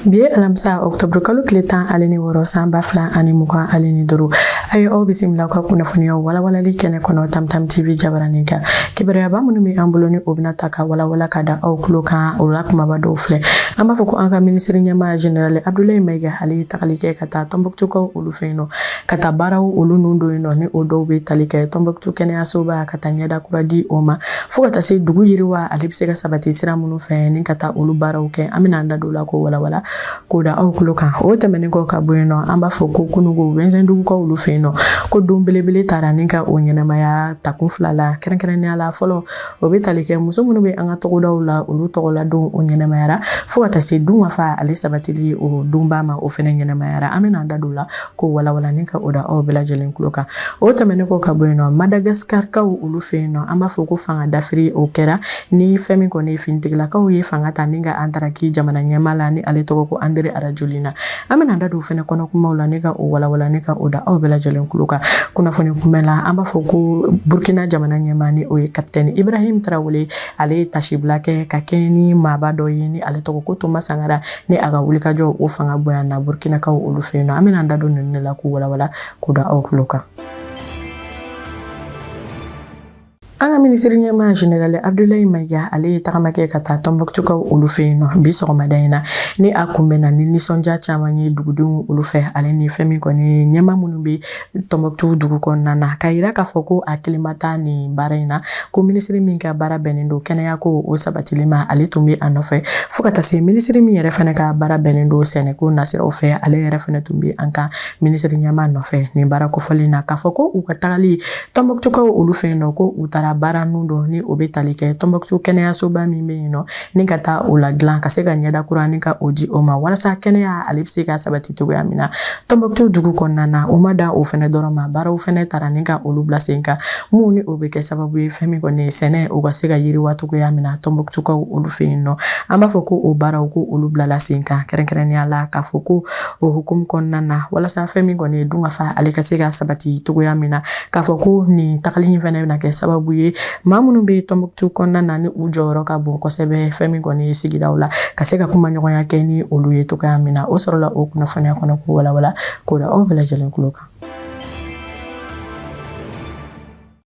bi ye alamisa octobre kalo tile tan ale ni wɔɔrɔ san ba fila ani mugan ale ni duuru a ye aw bisimila ka kunnafoniya walawalali kɛnɛ kɔnɔ tamtam tv jabaranin kan kibaruyaba minnu bɛ an bolo ni o bɛna ta ka walawala ka da aw tulo kan o la kumaba dɔw filɛ an b'a fɔ ko an ka minisiri ɲɛmaa general abdulayi mayiga ale ye tagali kɛ ka taa tɔnbɔkutukaw olu fɛ yen nɔ ka taa baaraw olu nun don yen nɔ ni o dɔw bɛ tali kɛ tɔnbɔkutu kɛnɛyasoba ka taa ɲɛda kura di o ma fo ka taa se dugu yiriwa ale bɛ se ka sabati sira minnu fɛ ni ka taa olu baaraw kɛ an bɛna an da don la k'o walawala k'o da aw tulo kan o tɛmɛnen kɔ ka bɔ yen nɔ an b'a fɔ ko kununko wɛnzɛndugukaw olu fɛ yen nɔ ko don belebele taara ni ka o ɲɛnamaya dakun fila la kɛrɛnkɛrɛnnenya la fɔlɔ o bɛ tali kɛ muso minnu bɛ an ka togodaw la olu tɔgɔla don o ɲɛnamayara fo ka taa se dun ka fa ale sabatili o donba ma o fana ɲɛnamayara an bɛna an da don la k'o walawala ni ka o da aw bɛɛ lajɛlen tulo kan o tɛmɛnen kɔ ka bɔ yen nɔ madagaskarikaw olu fɛ yen nɔ an b'a fɔ ko fanga dafiri o kɛra ni fɛn min kɔni ye finitigilakaw ye fanga ta ni ka a ntaraki jamana ɲɛmaa la ni ale tɔgɔ ko andre arajolina an bɛna da don fɛnɛ kɔnɔ kumaw la ni ka o walawala ni ka o da aw bɛɛ lajɛlen tulo kan kunnafoni kunbɛ la an b'a fɔ ko burkina jamana ɲɛmaa ni o ye kapitɛni ibrahim tarawele ale ye taasibila kɛ ka kɛ ni maaba dɔ ye ni ale tɔgɔ ko toma sangara ni a ka wulikajɔ o fanga bonyana burkinakaw olu fɛ yen nɔ an bɛna an da don ninnu de la k'u walawala k'u da aw tulo kan an ka minisiri ɲɛmaa general abdulayi mayiga ale ye tagama kɛ ka taa tɔnbɔkutukaw olu fɛ yen nɔ bi sɔgɔmada in na ni a kunbɛnna ni nisɔndiya caman ye dugudenw olu fɛ ale ni fɛn min kɔni ɲɛmaa minnu bɛ Tɔnbɔkutu dugu kɔnɔna na k'a yira k'a fɔ ko a kelen ma taa nin baara in na ko minisiri min ka baara bɛnnen don kɛnɛya ko o sabatili ma ale tun bɛ a nɔfɛ fo ka taa se minisiri min yɛrɛ fana ka baara bɛnnen don sɛnɛko nasiraw fɛ ale yɛrɛ fana tun bɛ an ka minisiri ɲɛmaa nɔfɛ nin baara kofɔlen na k'a fɔ ko u ka tagali tɔnbɔkutukaw olu fɛ yen nɔ ko u taara baara nun don ni o bɛ tali kɛ tɔnbɔkutu kɛnɛyasoba min bɛ yen nɔ ni ka taa o ladilan ka se ka ɲɛda kura ni ka o di o ma walasa kɛnɛya ale bɛ se ka sabati cogoya min na tɔnbɔkutu dugu kɔnɔna na u ma dan o fɛnɛ dɔrɔn ma baaraw fɛnɛ taara ni ka olu bila sen kan minnu ni o bɛ kɛ sababu ye fɛn min kɔni ye sɛnɛ o ka se ka yiriwa cogoya min na tɔnbɔkutukaw olu fɛ yen nɔ an b'a fɔ ko o baaraw ko olu bilala sen kan kɛrɛnkɛrɛnnenya la k'a fɔ ko o hukumu kɔnɔna na walasa fɛn min kɔni ye dun ka fa ale ka se ka sabati cogoya min na k'a fɔ ko nin tagali in fɛnɛ bɛna kɛ sababu ye maa minnu bɛ tɔnbɔkutu kɔnɔna na ni u jɔyɔrɔ ka bon kosɛbɛ fɛn min kɔni ye sigidaw la ka se ka kuma ɲɔgɔnya kɛ ni olu ye cogoya min na o sɔrɔla o kunnafoniya kɔnɔ ko walawala k'o da aw bɛɛ lajɛlen tulo kan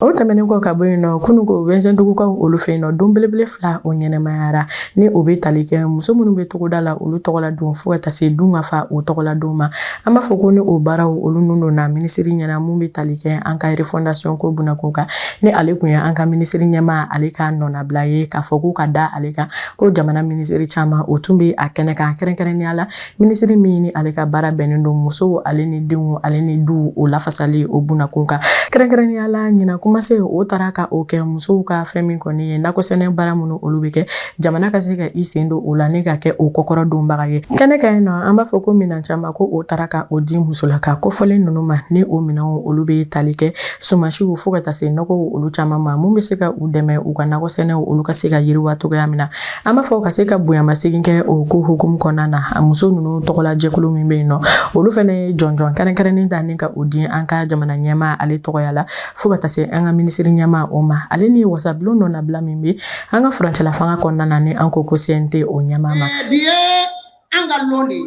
o tɛmɛnen kɔ ka bɔ yen nɔ kunu ko wɛnzɛndugukaw olu fɛ yen nɔ don belebele fila o ɲɛnamayara ni o bɛ tali kɛ muso minnu bɛ togoda la olu tɔgɔla don fo ka taa se dun ka fa o tɔgɔla don ma an b'a fɔ ko ni o baaraw olu nun donna minisiri ɲɛna mun bɛ tali kɛ an ka refɔndasiyɔn ko bunakun kan ni ale kun ye an ka minisiri ɲɛmaa ale ka nɔnabila ye k'a fɔ ko ka da ale kan ko jamana minisiri caman o tun bɛ a kɛnɛ kan kɛrɛnkɛrɛnnenya la minisiri min ni ale ka baara bɛnnen don musow ale ni denw ale ni duw o lafasali o bunakun kan kɛrɛnkɛrɛnnenya la ɲinan kuma se o taara ka o kɛ musow ka fɛn min kɔni ye nakɔsɛnɛ baara minnu olu bɛ kɛ jamana ka se ka i sen don o la ni ka kɛ o kɔkɔrɔ donbaga ye kɛnɛ kan yen nɔ an b'a fɔ ko minɛn caman ko o taara ka o di musolaka kofɔlen ninnu ma ni o minɛnw olu bɛ tali kɛ Sumansiw fo ka taa se nɔgɔw olu caman ma mun bɛ se ka u dɛmɛ u ka nakɔ sɛnɛw olu ka se ka yiriwa cogoya min na an b'a fɔ ka se ka bonyamasegin kɛ o ko hukumu kɔnɔna na a muso ninnu tɔgɔla jɛkulu min bɛ yen nɔ olu fana ye jɔnjɔn kɛrɛnkɛrɛnnen ta ni ka o di an ka jamana ɲɛmaa ale tɔgɔya la fo ka taa se an ka minisiri ɲɛmaa o ma ale ni wasabulon nɔnabila min bɛ an ka furancɛla fanga kɔnɔna na ni an ko ko CNT o ɲɛmaa ma bi ye an ka lon de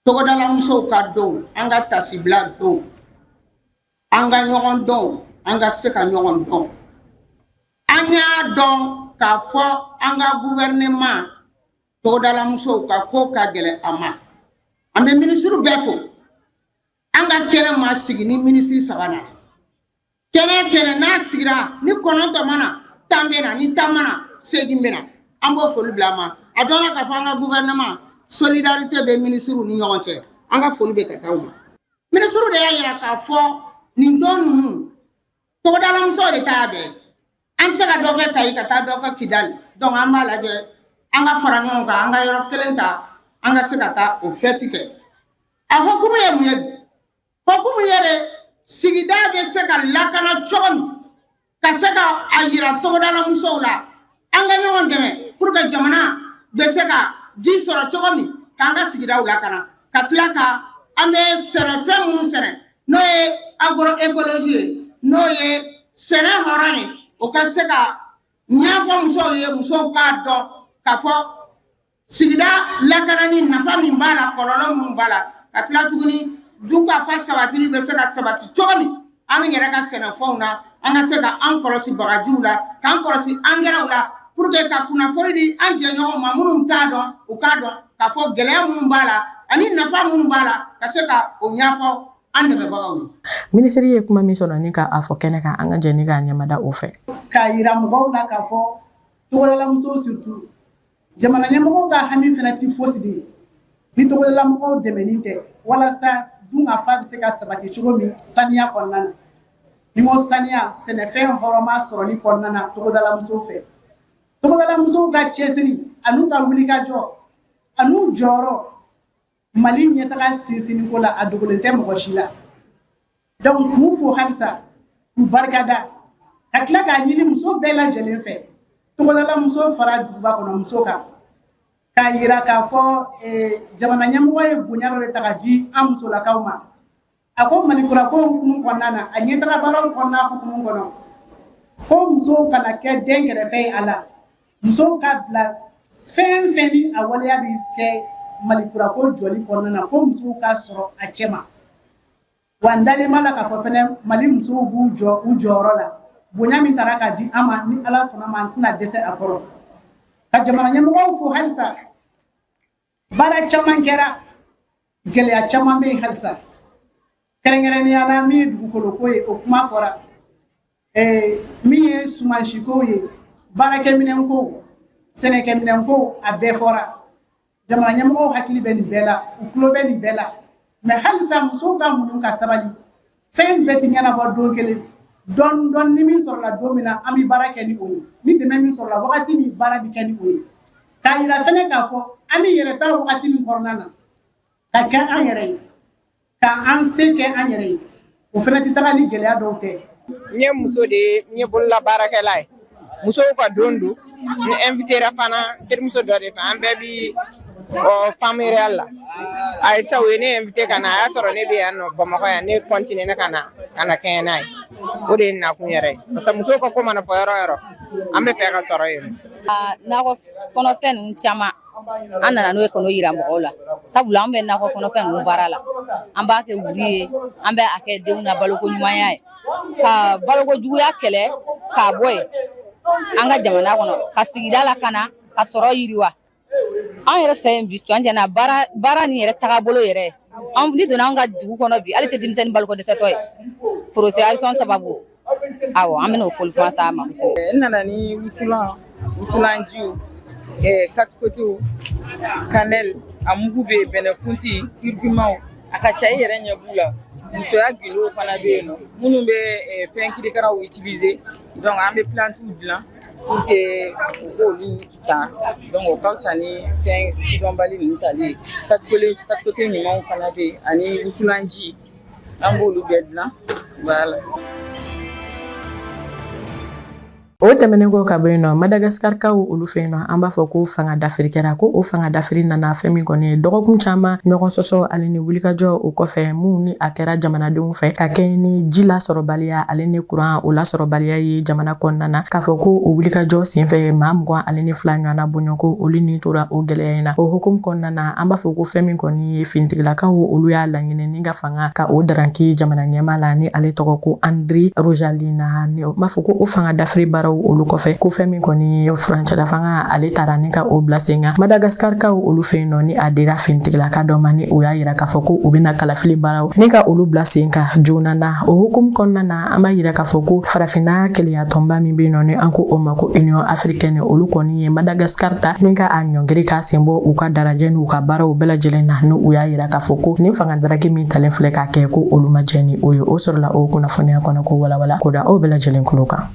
togodalamusow ka don an ka taasibila don an ka ɲɔgɔn don an ka se ka ɲɔgɔn dɔn an y'a dɔn k'a fɔ an ka guvɛrɛnɛma togodalamusow ka ko ka gɛlɛn a ma an bɛ minisiriw bɛɛ fo an ka kɛnɛ ma sigi ni minisiri saba na kɛnɛ kɛnɛ n'a sigira ni kɔnɔntɔn ma na tan bɛ na ni tan ma na segin bɛ na an b'o foli bila a ma a dɔnna k'a fɔ an ka gouvernement solidarité bɛ minisiriw ni ɲɔgɔn cɛ an ka foli bɛ ka taa u ma minisiriw de y'a yira k'a fɔ nin don ninnu togodalamusow de ta y'a bɛɛ an tɛ se ka dɔ kɛ kayi ka taa dɔ kɛ kidali donc an b'a lajɛ an ka fara ɲɔgɔn kan an ka yɔrɔ kelen ta an ka se ka taa o fɛti kɛ a hukumu ye mun ye Hukumu ye de sigida bɛ se ka lakana cogo min ka se ka a yira togodalamusow la an ka ɲɔgɔn dɛmɛ pour que jamana bɛ se ka ji sɔrɔ cogo min k'an ka sigidaw lakana ka tila ka an bɛ sɛnɛfɛn minnu sɛnɛ n'o ye agroécologie ye n'o ye sɛnɛ hɔrɔn ye o ka se ka ɲɛfɔ musow ye musow k'a dɔn k'a fɔ Sigida lakanani nafa min b'a la kɔlɔlɔ minnu b'a la ka tila tuguni dunkafa sabatili bɛ se ka sabati cogo min an yɛrɛ ka sɛnɛfɛnw na an ka se ka an kɔlɔsi bagajiw la k'an kɔlɔsi angɛrɛw la pour que ka kunnafoni di an jɛɲɔgɔnw ma minnu t'a dɔn u k'a dɔn k'a fɔ gɛlɛya minnu b'a la ani nafa minnu b'a la ka se ka o ɲɛfɔ an dɛmɛbagaw ye. Minisiri ye kuma min sɔrɔ ni k'a fɔ kɛnɛ kan an ka jɛ ni k'a ɲɛmada o fɛ. K'a yira mɔgɔw la k'a fɔ togodalamusow surtout Jamana ɲɛmɔgɔw ka hami fana tɛ fosi de ye ni togodalamɔgɔw dɛmɛni tɛ walasa dunkafa bɛ se ka sabati cogo min saniya kɔnɔna na ni ma saniya sɛnɛfɛn hɔrɔnma sɔrɔli kɔnɔna na togodalamuso fɛ togodalamusow ka cɛsiri an'u ka wulikajɔ an'u jɔyɔrɔ Mali ɲɛtaga sinsinni ko la a dogolen tɛ mɔgɔ si la donc k'u fo halisa k'u barikada ka tila k'a ɲini muso bɛɛ lajɛlen fɛ togodalamuso fara duguba kɔnɔ muso kan k'a yira k'a fɔ jamana ɲɛmɔgɔ ye bonya dɔ de ta ka di an musolakaw ma a ko malikura ko hukumu kɔnɔna na a ɲɛtaga baaraw kɔnɔna hukumu kɔnɔ ko musow kana kɛ dɛnkɛrɛfɛ ye a la musow ka bila fɛn fɛn ni a waleya bɛ kɛ malikura ko jɔli kɔnɔna na ko musow ka sɔrɔ a cɛma wa n dalen b'a la k'a fɔ fɛnɛ mali musow b'u jɔ u jɔyɔrɔ la bonya min tara ka di an ma ni ala sɔnna ma an tɛna dɛsɛ a kɔrɔ ka jamana ɲɛmɔgɔw fo halisa baara caman kɛra gɛlɛya caman bɛ yen halisa kɛrɛnkɛrɛnnenya la min ye dugukoloko ye o kuma fɔra eh, min ye sumansiko ye baarakɛminɛnko sɛnɛkɛminɛnko a bɛɛ fɔra jamana ɲɛmɔgɔw hakili bɛ nin bɛɛ la u tulo bɛ nin bɛɛ la mais halisa musow ka muɲu ka sabali fɛn bɛɛ ti ɲɛnabɔ don kelen dɔɔni dɔɔni min sɔrɔla don min na an bɛ baara kɛ ni o ye ni dɛmɛ min sɔrɔla wagati min baara bɛ kɛ ni o ye k'a yira fɛnɛ k'a fɔ an bɛ yɛrɛ ta wagati min kɔnɔna na ka kɛ an yɛrɛ ye ka an se kɛ an yɛrɛ ye o fɛnɛ tɛ taga ni gɛlɛya dɔw tɛ n ye muso de ye n ye bololabaarakɛla ye musow ka don don n invitera fana terimuso dɔ de fɛ an bɛɛ bi femmes rurales la ayisa o ye ne invité ka na a y'a sɔrɔ ne bɛ yan nɔ bamakɔ yan ne continuera ka na kɛɲɛ n'a ye o de ye nakun yɛrɛ ye parce que musow ka ko mana fɔ yɔrɔ yɔrɔ an bɛ fɛ ka sɔrɔ yen nakɔ kɔnɔfɛn ninnu caman an nana n'o ye ka n'o yira mɔgɔw la sabula an bɛ nakɔ kɔnɔfɛn ninnu baara la an b'a kɛ wuri ye an bɛ a kɛ denw na baloko ɲumanya ye ka baloko juguya kɛlɛ k'a bɔ yen an ka jamana kɔnɔ ka sigida lakana ka sɔrɔ yiriwa an yɛrɛ fɛ yen bi cɔnjɛna baara nin yɛrɛ tagabolo yɛrɛ ni donna an ka dugu kɔnɔ bi ale tɛ denmisɛnnin baloko dɛsɛtɔ ye porosɛrisɔn sababu aw an bɛ n'o foli fɔ sa ma n nana ni wusulan Wusulanjiw katikotew kanɛl a mugu bɛ yen bɛnɛfunti kurkumaw a ka ca i yɛrɛ ɲɛ b'u la musoya gundow fana bɛ yen nɔ minnu bɛ fɛn kirikaraw utiliser donc an bɛ plantiw dilan pour que u k'olu ta donc o ka fisa ni fɛn sidɔnbali ninnu tali ye katikote ɲumanw fana bɛ yen ani wusulanji an b'olu bɛɛ dilan voilà O tɛmɛnen kɔ ka bɔ yen nɔ madagasikakaw olu fɛ yen nɔ an b'a fɔ ko fanga dafiri kɛra ko o fanga dafiri nana fɛn min kɔni ye dɔgɔkun caman ɲɔgɔn sɔsɔ ale ni wulikajɔ o kɔfɛ min ni a kɛra jamanadenw fɛ ka kɛɲɛ ni ji lasɔrɔbaliya ale ni kuran o lasɔrɔbaliya ye jamana kɔnɔna na k'a fɔ ko o wulikajɔ senfɛ maa mugan ale ni fila ɲɔgɔnna bɔɲɔgɔnko olu ni tora o gɛlɛya in na o hukumu kɔnɔna na an b'a fɔ ko fɛn min kɔni ye finitigilakaw olu y'a laɲini ni Ka fanga ka o daranki jamana ɲɛmaa la ni ale tɔgɔ ko andry rajoelina an b'a fɔ ko o fanga dafiri baaraw olu kɔfɛ ko fɛn min kɔni ye furancɛla fanga ale tara ni ka o bila sen kan madagaskarikaw olu fɛ yen nɔ ni a dira finitigilaka dɔ ma ni o y'a yira k'a fɔ ko u bɛna kalafili baaraw ni ka olu bila sen kan joona na o hukumu kɔnɔna na an b'a yira k'a fɔ ko farafinna kelenyatɔnba min bɛ yen nɔ ni an ko o ma ko union africaine olu kɔni ye madagascar ta ni ka a ɲɔngiri k'a sen bɔ u ka darajɛ n'u ka baaraw bɛɛ lajɛlen na ni u y'a yira k'a fɔ ko nin fanga daraki min talen filɛ k'a kɛ ko olu ma jɛ ni o ye o sɔrɔla o kunnafoniya kɔnɔ k'o walawala k'o da aw bɛɛ lajɛlen kulo kan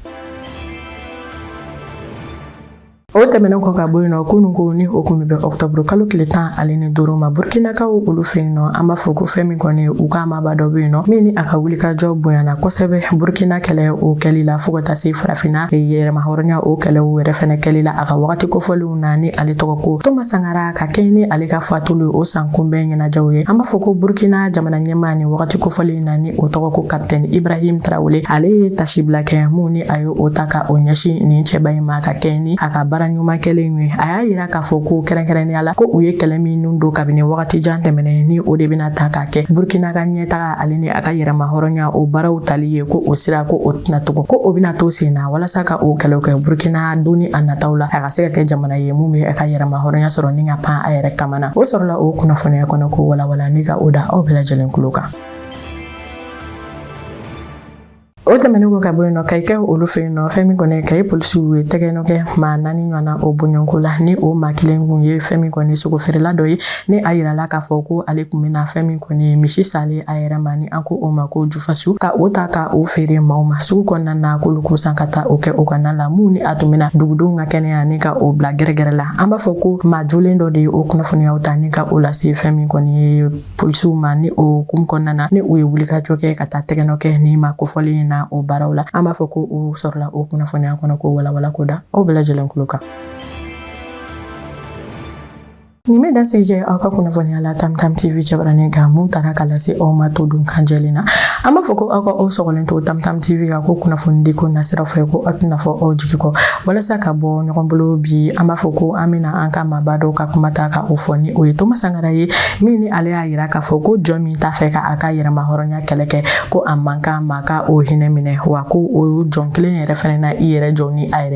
o tɛmɛnen kɔ ka bɔ yen nɔ kunun ko ni o kun bɛ bɛn ɔktɔburu kalo tile tan ale ni duuru ma burkinakaw olu fɛ yen nɔ an b'a fɔ ko fɛn min kɔni ye u ka maaba dɔ bɛ yen nɔ min ni a ka wulikajɔ bonyana kosɛbɛ burkina kɛlɛ o kɛli la fo ka taa se farafinna yɛrɛmahɔrɔnya o kɛlɛw yɛrɛ fɛnɛ kɛli la a ka wagati kofɔlenw na ni ale tɔgɔ ko thomas sankara ka kɛɲɛ ni ale ka fatulu o san kunbɛn ɲɛnajɛw ye an b'a fɔ ko burkina jamana ɲɛmaa nin wagati kofɔlen na ni o tɔgɔ ko kapitɛni ibrahim tarawele ale ye taasibila kɛ min ni a ye o ta ka o ɲɛsin nin cɛba in ma ka kɛɲɛ ni a ka baara ɲuman kɛlen ye a y'a yira k'a fɔ ko kɛrɛnkɛrɛnnenya la ko u ye kɛlɛ minnu don kabini wagati jan tɛmɛnen ni o de bɛna ta k'a kɛ burkina ka ɲɛtaga ale ni a ka yɛrɛma hɔrɔnya o baaraw tali ye ko o sira ko o tɛna tugun ko o bɛna to sen na walasa ka o kɛlɛw kɛ burkina don ni a nataw la a ka se ka kɛ jamana Na ye min bɛ a ka yɛrɛma hɔrɔnya sɔrɔ ni ka pan a yɛrɛ kaman na o sɔrɔla o kunnafoniya kɔnɔ k'o walawala n' ka o da aw bɛɛ lajɛlen tulo kan o tɛmɛnen kɔ ka bɔ yen nɔ kayikaw olu fɛ yen nɔ fɛn min kɔni kayi polisiw ye tɛgɛnɔ kɛ maa naani ɲɔgɔnna o bɔɲɔgɔnko la ni o maa kelen kun ye fɛn min kɔni sogo feerela dɔ ye ni a yirala k'a fɔ ko ale tun bɛna fɛn min kɔni misi salen a yɛrɛ ma ni an ko o ma ko fasu ka o ta ka o feere maaw ma sugu kɔnɔna na k'olu k'o san ka taa o kɛ o ka na la mun ni a tun bɛna dugudenw ka kɛnɛya ni ka o bila gɛrɛgɛrɛ la an b'a fɔ ko maa jolen dɔ de ye o kunnafoniyaw ta ni ka o lase fɛn min kɔni ye polisiw ma ni o hukumu kɔnɔna na ni u ye wulikajɔ kɛ ka taa tɛgɛnɔ kɛ nin maa kofɔlen na o baaraw la an b'a fɔ ko o sɔrɔla o kunnafoniya kɔnɔ k'o walawala k'o da aw bɛɛ lajɛlen kulo kan Nin bɛ dan sigi aw ka kunnafoniya la Tam Tam TV jabaranin kan mun tara ka lase aw ma todunkan jɛlen na an b'a fɔ ko aw ka aw sɔgɔlen to Tam Tam TV kan ko kunnafoni di ko nasira fɛ ko a tɛna fɔ aw jigi kɔ walasa ka bɔ ɲɔgɔn bolo bi an b'a fɔ ko an bɛna an ka maaba dɔw ka kuma ta ka o fɔ ni o ye Toma Sankara ye min ni ale y'a jira k'a fɔ ko jɔn min t'a fɛ ka a ka yɛrɛma hɔrɔnya kɛlɛ kɛ ko a man kan maa ka o hinɛ minɛ wa ko o jɔn kelen yɛrɛ fana na i yɛrɛ jɔ ni a yɛrɛ